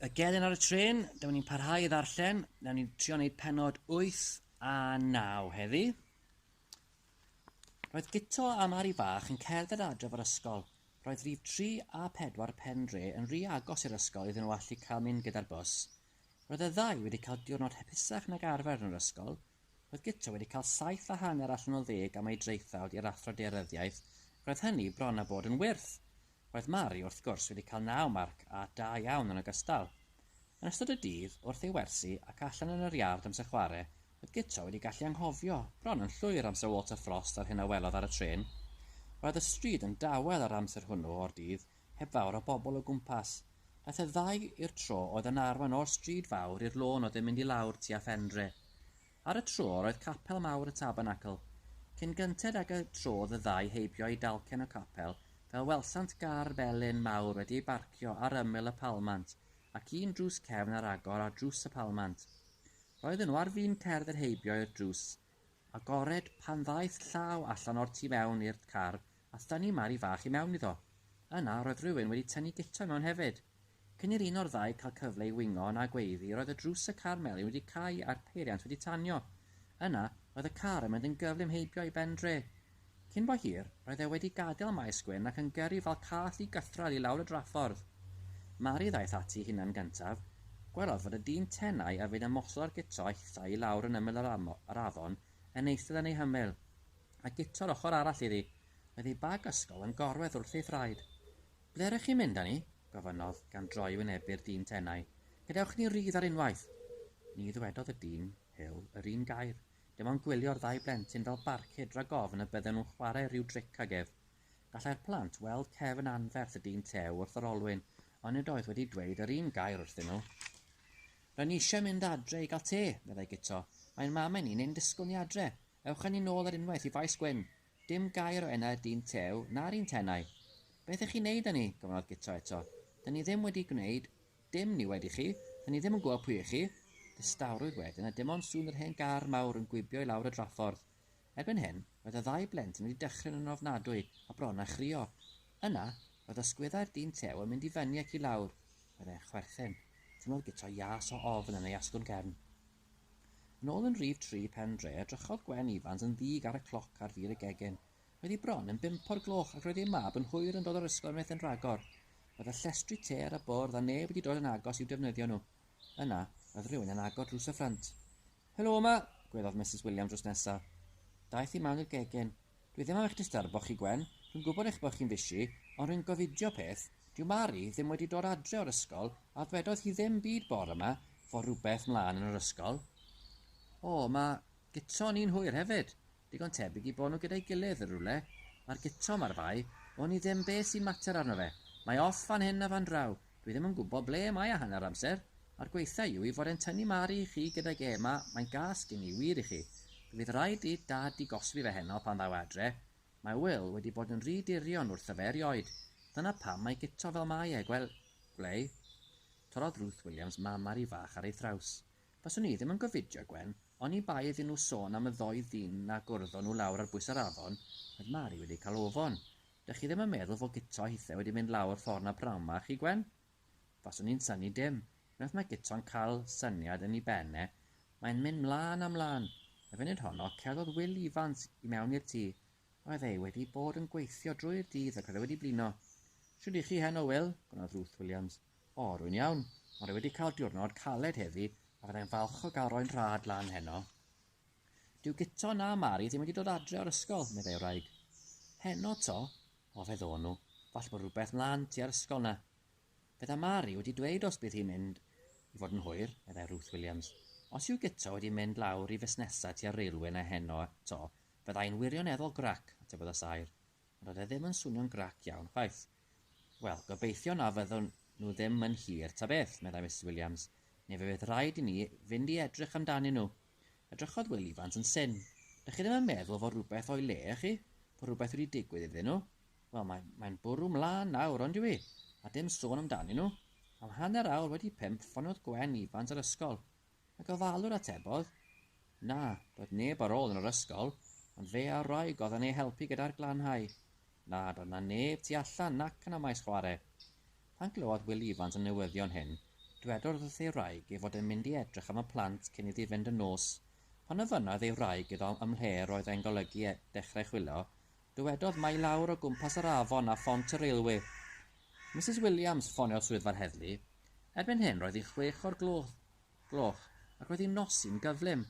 y gelyn ar y trên, dyma ni'n parhau i ddarllen, na ni'n trio wneud penod 8 a 9 heddi. Roedd Gito a Mari Fach yn cerdded adref o'r ysgol. Roedd rhif 3 a 4 pen dre yn rhy agos i'r ysgol iddyn nhw allu cael mynd gyda'r bws. Roedd y ddau wedi cael diwrnod hapusach nag arfer yn yr ysgol, Roedd Guto wedi cael saith a hanner allan o ddeg am ei draethawd i'r Athro Daearyddiaeth, ac roedd hynny bron a bod yn wyrth! Roedd Mari, wrth gwrs, wedi cael naw marc a da iawn yn ogystal. Yn ystod y dydd, wrth ei wersi ac allan yn yr iard amser chwarae, roedd Guto wedi gallu anghofio, bron yn llwyr, am Syr Walter Frost a'r hyn a welodd ar y trên. Roedd y stryd yn dawel yr amser hwnnw o'r dydd, heb fawr o bobl o gwmpas. Daeth y ddau i'r tro oedd yn arwain o'r stryd fawr i'r lôn oedd yn mynd i lawr tua Fenre. Ar y tro yr oedd capel mawr y Tabernacl. Cyn gynted ag y tro oedd y ddau heibio i dalcen y capel fel welsant gar felyn mawr wedi ei barcio ar ymyl y palmant ac un drws cefn ar agor ar drws y palmant. Roedden nhw ar fin cerdd yr heibio i'r drws Agored, pan ddaeth llaw allan o'r tu mewn i'r car, a thynnu Mari fach i mewn iddo. Yna, roedd rhywun wedi tynnu Guto i mewn hefyd. Cyn i'r un o'r ddau cael cyfle i wingo na gweiddi, roedd y drws y car melyn wedi cau a'r peiriant wedi tanio. Yna, roedd y car yn mynd yn gyflym heibio i ben dre. Cyn bo hir, roedd e wedi gadael y Maes Gwyn ac yn gyrru fel cath i gythrad i lawr y draffordd. Mari ddaeth ati hunan gyntaf. Gwelodd fod y dyn tenau a fu'n ymosod ar Guto a hithau i lawr yn ymyl yr afon yn eistedd yn ei hymyl, a Guto yr ochr arall iddi, oedd ei bag ysgol yn gorwedd wrth ei thraed. Ble r'ych chi'n mynd â ni? gofynnodd, gan droi i wynebu'r dyn tenau. Gadewch i ni rydd ar unwaith! Ni ddywedodd y dyn hil yr un gair. dim ond gwylio'r ddau blentyn fel barcud rhag ofn y bydden nhw'n chwarae rhyw dric ag ef. Gallai'r plant weld cef yn anferth y dyn tew wrth yr olwyn, ond nid oedd wedi dweud yr un gair wrthyn nhw. R'yn ni eisiau mynd adre i gael te, meddai Guto. Mae'n mam i ni, neu'n disgwyl ni adre. Ewch â ni nôl ar unwaith i Faes Gwyn. Dim gair o enau'r dyn tew, na'r un tenau. Beth 'ych chi'n neud â ni? gofynnodd Guto eto. Dyn ni ddim wedi gwneud Dim ni wedi chi, da ni ddim yn gwybod pwy ych chi, distawrwydd wedyn a dim ond sŵn yr hen gar mawr yn gwibio i lawr y draffordd. Erbyn hyn, roedd y ddau blentyn wedi dychryn yn ofnadwy a bron â chrio. Yna, roedd ysgwyddau'r dyn tew yn mynd i fyny ac i lawr. Roedd e'n chwerthin. Teimlodd guto ias o ofn yn ei asgwrn gefn. Yn ôl yn rhif tri Pen Dre, edrychodd Gwen Ifans yn ddig ar y cloc ar fur y gegin. Oedd hi bron yn bump o'r gloch ac roedd ei mab yn hwyr yn dod o'r ysgol unwaith yn rhagor. Oedd y llestri te ar y bwrdd a neb wedi dod yn agos i'w defnyddio nhw. Yna, oedd rhywun yn agor drws y ffrynt. Helo yma! gweddiodd Misus Williams drws nesa. Daeth hi mewn i'r gegin. Dwi ddim am eich disturbo chi, Gwen. Dwi'n gwybod eich bod chi'n busy, ond rwy'n gofidio peth, dyw Mari ddim wedi dod adre o'r ysgol a ddwedodd hi ddim byd bore yma fod rhywbeth mlaen yn yr ysgol. O, mae guto ni'n hwyr hefyd! Digon tebyg i bo nhw gyda'i gilydd yn rywle. Mae'r gitro yma ar fai, wn i ddim be sy'n mater arno fe. Mae off fan hyn a fan draw, dwi ddim yn gwybod ble mae e hanner amser. A'r gweithiau yw ei fod e'n tynnu Mari i chi gydag e yma, mae'n gas gen i wir i chi. Fe fydd rhaid i Dad digoswi fe heno pan ddaw e adre. Mae Wil wedi bod yn rhy dirion wrtho fe erioed. Dyna pam mae gitro fel mae e, gwel, gwlei. Torrodd Ruth Williams mam Mari fach ar ei thraws. Faswn i ddim yn gofidio, Gwen, oni bai iddyn nhw sôn am y ddou ddyn na gwrddo nhw lawr ar bwys yr afon, oedd Mari wedi cael ofon. Dych chi ddim yn meddwl fod Guto a hithe wedi mynd lawr ffordd 'na pnawn 'ma, chi Gwen? Faswn i'n synnu dim. Unwaith mae Guto'n cael syniad yn ei ben e, mae'n mynd 'mlân a 'mlân. Y funud honno, cerddodd Wil Ifans i mewn i'r tŷ. Roedd e wedi bod yn gweithio drwy'r dydd ac roedd e wedi blino. Shwd 'y chi heno, Wil? gofynnodd Ruth Williams. O, rwy'n iawn. Ond rwy wedi cael diwrnod caled heddi a fyddai'n falch o gael rhoi'n rhad lan heno. Dyw Guto na Mari ddim wedi dod adre o'r ysgol, meddai wraig. Heno to? O, feddo nhw. Falle bod rhywbeth mlan tua'r ysgol na. Fydda Mari wedi dweud os bydd hi'n mynd i fod yn hwyr, meddai Ruth Williams. Os yw Guto wedi mynd lawr i fusnesau tua'r railwê na heno to, fyddai'n wirioneddol grac, atebodd y saer. Ond oedd e ddim yn swnio'n grac iawn chwaith. Wel, gobeithio na fyddwn nhw ddim yn hir, ta beth, meddai Misus Williams, neu fe fydd rhaid i ni fynd i edrych amdanyn nhw. Edrychodd Wil Ifans yn syn. Dych chi ddim yn meddwl fod rhywbeth o'i le, ych chi? Fod rhywbeth wedi digwydd iddyn nhw? Wel, mae'n mae bwrw mlaen nawr, ond yw i? A dim sôn amdanyn nhw. Am hanner awr wedi pump, ffoniodd Gwen Ifans yr ysgol. Y gofalwr atebodd, Na, doedd neb ar ôl yn yr ysgol, ond fe a'r wraig oedd yn ei helpu gyda'r glanhau. Na, doedd 'na neb tu allan nac yn y maes chwarae. Pan glywodd Wil Ifans y newyddion hyn, dwedodd wrth ei wraig ei fod e'n mynd i edrych am y plant cyn iddi fynd yn nos. Pan ofynnodd ei wraig iddo ymhle'r oedd e'n golygu dechrau chwilo, Dywedodd mai lawr o gwmpas yr afon a phont y railwê. Misus Williams ffoniodd swyddfa'r heddlu. Erbyn hyn roedd hi'n chwech o'r gloch gloch ac roedd hi'n nosi'n gyflym.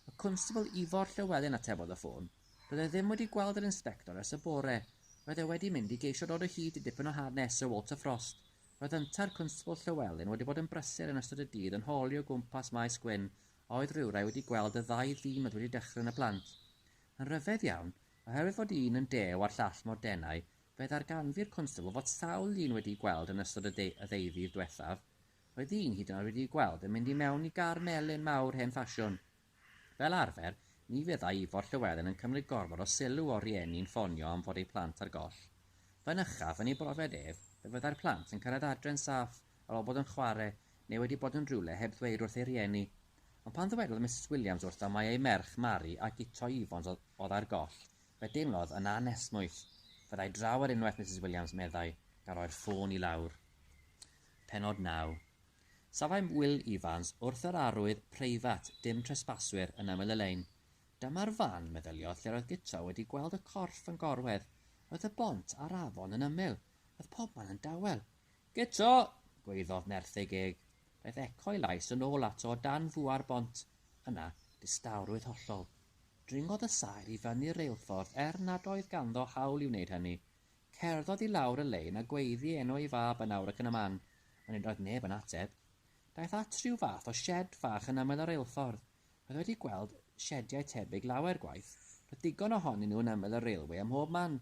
Y Cwnstabl Ifor Llewelyn atebodd y ffôn. Doedd e ddim wedi gweld yr Inspector ers y bore. Roedd e wedi mynd i geisio dod o hyd i dipyn o hanes Sir Walter Frost. Roedd yntau'r Cwnstabl Llewelyn wedi bod yn brysur yn ystod y dydd yn holi o gwmpas Maes Gwyn a oedd rhywrai wedi gweld y ddau ddyn oedd wedi dychryn y plant. Yn rhyfedd iawn, Oherwydd fod un yn dew a'r llall mor denau, fe ddarganfu'r Constable fod sawl llun wedi'u gweld yn ystod y ddeuddydd diwethaf, roedd un hyd yn oed wedi'i gweld yn mynd i mewn i gar melyn mawr hen ffasiwn. Fel arfer, ni fyddai Ifor Llywelyn yn cymryd gormod o sylw o'r rhieni'n ffonio am fod eu plant ar goll. Fynychaf, yn ei brofiad ef, fe fyddai'r plant yn cyrraedd adre'n saff. ar ol bod yn chware neu wedi bod yn rhywle heb ddweud wrth ei rieni. Ond pan ddywedodd Misus Williams wrtho mai ei merch Mari a Guto Evans oedd ar goll, fe deimlodd yn anesmwyth. Fyddai draw ar unwaith Misus Williams, meddai, gan roi'r ffôn i lawr. Pennod naw. Safai Wil Evans wrth yr arwydd preifat 'Dim Tresbaswyr' yn ymyl y lein. Dyma'r fan, meddyliodd, lle'r oedd Guto wedi gweld y corff yn gorwedd. Roedd y bont a'r afon yn ymyl. Roedd pobman yn dawel. Gyto! gwaeddodd nerth ei geg. Daeth eco'i lais yn ôl ato o dan fua'r bont. Yna, distawrwydd hollol. Dringodd y saer i fyny'r reilffordd er nad oedd ganddo hawl i wneud hynny. Cerddodd i lawr y lein a gweiddi enw ei fab yn awr ac yn y man, ond nid oedd neb yn ateb. Daeth at rhyw fath o sied fach yn ymyl y reilffordd. Roedd wedi gweld siediau tebyg lawer gwaith. Roedd digon ohonyn nhw yn ymyl y railwê ym mhob man.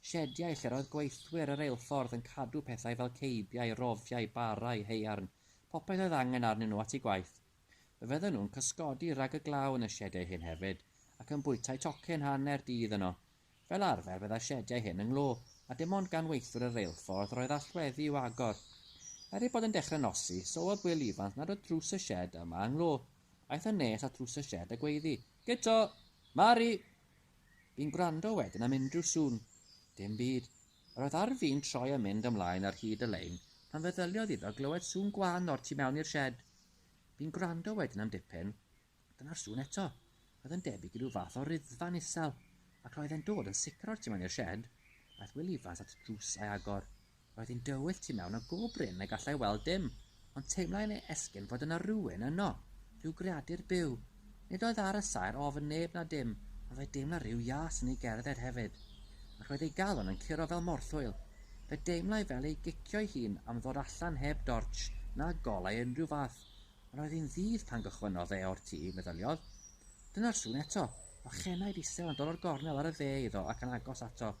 Siediau lle'r oedd gweithwyr y reilffordd yn cadw pethau fel ceibiau, rofiau, barau, haearn, popeth oedd angen arnyn nhw at eu gwaith. Fe fydden nhw'n cysgodi rhag y glaw yn y siediau hyn hefyd, ac yn bwytai tocyn hanner dydd yno. Fel arfer bydda'r siediau hyn yng nglo, a dim ond gan weithwyr y reilffordd roedd allweddi i'w agor. Er ei bod yn dechrau nosi, sylwodd Wil Ifans nad oedd drws y sied yma yng nglo. Aeth yn nes at ddrws y sied a gweiddi, Guto! Mari! Bu'n gwrando wedyn am unrhyw sŵn. Dim byd. Yr oedd ar fin troi a mynd ymlaen ar hyd y lein pan feddyliodd iddo glywed sŵn gwan o'r tu mewn i'r sied. Bu'n gwrando wedyn am dipyn. Dyna'r sŵn eto. Roedd yn debyg i ryw fath o ruddfa'n isel, ac roedd e'n dod yn sicr o'r tu mewn i'r sied. Aeth Wil Ifans at y drws a'i agor. Roedd hi'n dywyll tu mewn a go brin na gallai weld dim, ond teimlai yn ei esgyrn fod yna rywun yno, rhyw greadur byw. Nid oedd ar y saer ofn neb na dim, ond fe deimla rhyw ias yn ei gerdded hefyd, ac roedd ei galon yn curo fel morthwyl. Fe deimlai fel ei gicio'i hun am ddod allan heb dortsh na golau o unrhyw fath, ond roedd hi'n ddydd pan gychwynnodd e o'r tŷ, meddyliodd. Dyna'r sŵn eto! Ochenaid isel yn dod o'r gornel ar y dde iddo ac yn agos ato.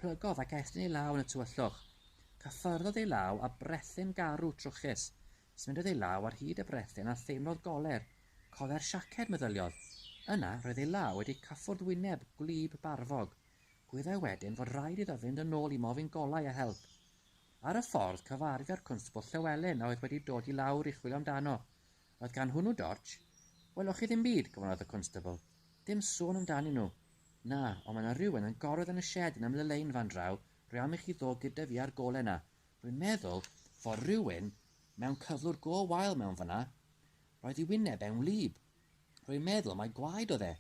Plygodd ac ethyn ei law yn y tywyllwch. Cyffyrddodd ei law â brethyn garw trwchus. Symudodd ei law ar hyd y brethyn a theimlodd goler. Coler siaced, meddyliodd. Yna, roedd ei law wedi cyffwrdd wyneb gwlyb barfog. Gwyddai wedyn fod rhaid iddo fynd yn ôl i mofyn golau a help. Ar y ffordd, cyfarfu â'r Cwnsbwl Llywelyn a oedd wedi dod i lawr i chwilio amdano. Oedd gan hwnnw dortsh? Welwch chi ddim byd, gofynnodd y Constabl. Dim sôn amdanyn nhw. Na, ond mae 'na rywun yn gorwedd yn y sied yn ymlelein fan draw, rwy' am i chi ddod gyda fi a'r gole 'na. Rwy'n meddwl fod rhywun mewn cyflwr go wael mewn fan'na. Roedd ei wyneb e'n wlyb. Rwy'n meddwl mai gwaed oedd e.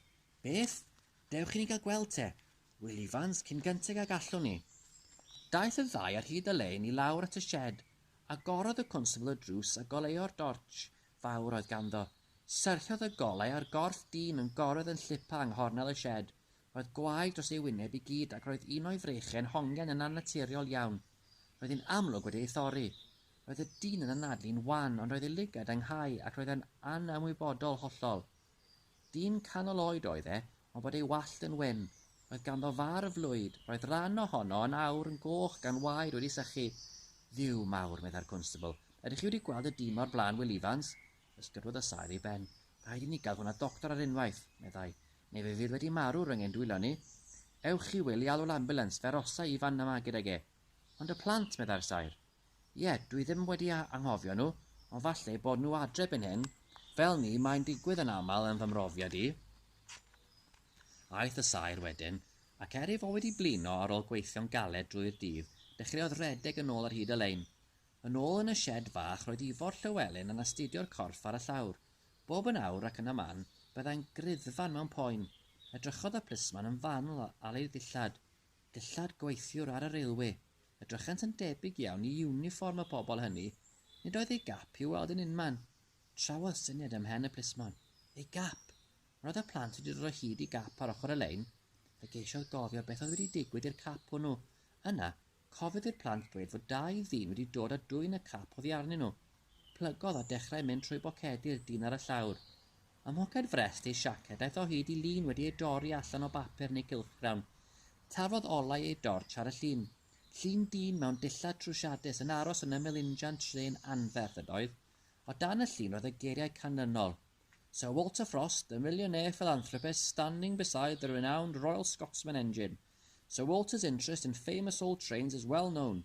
Beth? Dewch i ni gael gweld te, Wil Ifans, cyn gynted ag allwn ni. Daeth y ddau ar hyd y lein i lawr at y sied, agorodd y cwnstabl y drws a goleuo'r dortsh fawr oedd ganddo. Syrthiodd y golau a'r gorff dyn yn gorwedd yn llipa yng nghornel y sied. Roedd gwaed dros ei wyneb i gyd ac roedd un o'i freichiau'n hongian yn annaturiol iawn. Roedd hi'n amlwg wedi ei thorri. Roedd y dyn yn anadlu'n wan ond roedd ei lygad ynghau ac roedd e'n anymwybodol hollol. Dyn canol oed oedd e, ond bod ei wallt yn wyn. Roedd ganddo far o flwyd. Roedd rhan ohono yn awr, yn goch, gan waed wedi sychu. Dduw mawr, meddai'r cwnstabl. Ydych chi wedi gweld y dyn 'ma o'r blaen, Wil Ifans? Ysgydwodd y saer ei ben. Rhaid i ni gael hwn at ddoctor ar unwaith, meddai, neu fe fydd wedi marw rhwng ein dwylo ni. Ewch chi, Wil, i alw'r ambiwlans, fe arosai Ifan yma gydag e. Ond y plant, meddai'r saer. Ie, dwi ddim wedi anghofio nhw, ond falle eu bod nhw adre erbyn hyn, fel 'ny mae'n digwydd yn aml yn fy mhrofiad i. Aeth y saer wedyn, ac er ei fod wedi blino ar ôl gweithio'n galed drwy'r dydd, dechreuodd redeg yn ôl ar hyd y lein. Yn ôl yn y sied fach roedd Ifor Llywelyn yn astudio'r corff ar y llawr. Bob yn awr ac yn y man, byddai'n griddfan mewn poen. Edrychodd y plismon yn fanwl ar eu dillad. Dillad gweithiwr ar y railwê. Edrychent yn debyg iawn i iwnifform y pobl hynny, nid oedd ei gap i'w weld yn unman. Trawodd syniad ym mhen y plismon. Ei gap! Ond oedd y plant wedi dod o hyd i gap ar ochr y lein? Fe geisiodd gofio beth oedd wedi digwydd i'r cap hwnnw. Yna, cofiodd i'r plant ddweud fod dau ddyn wedi dod a dwyn y cap oddi arnyn nhw. Plygodd a dechrau mynd trwy bocedi'r dyn ar y llawr. Ym mhoced frest ei siaced aeth o hyd i lun wedi ei dorri allan o bapur yn ei gylchgrawn. Taflodd olau ei dortsh ar y llun. Llun dyn mewn dillad trwsiadus yn aros yn ymyl injan trên anferth ydoedd. O dan y llun roedd y geiriau canlynol, Sir Walter Frost, the millionaire philanthropist standing beside the renowned Royal Scotsman engine. Sir Walter's interest in famous old trains is well known,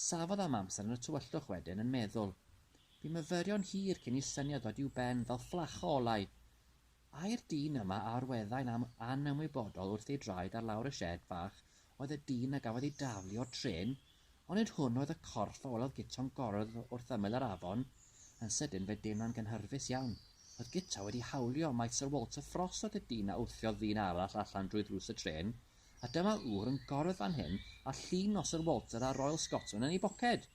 Safodd am amser yn y tywyllwch wedyn yn meddwl. Bu myfyrion hir cyn i syniad ddod i'w ben fel fflach o olau. Ai'r dyn yma a orweddai'n am anymwybodol wrth ei draed ar lawr y sied fach oedd y dyn a gafodd ei daflu o'r trên? Ond nid hwn oedd y corff a welodd Guto'n gorwdd wrth ymyl yr afon. Yn sydyn fe deimlo'n gynhyrfus iawn. Oedd Guto wedi hawlio mai Sir Walter Frost oedd y dyn a wthiodd ddyn arall allan drwy ddrws y trên? a dyma ŵr yn gorwedd fan hyn a llun nos yr Walter a'r Royal Scotsman yn ei boced!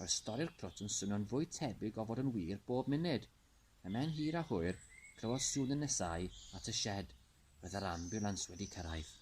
Roedd stori'r crwt yn swnio'n fwy tebyg o fod yn wir bob munud. Ymhen hir a hwyr, clywodd sŵn yn nesáu at y sied. Roedd yr ambiwlans wedi cyrraedd.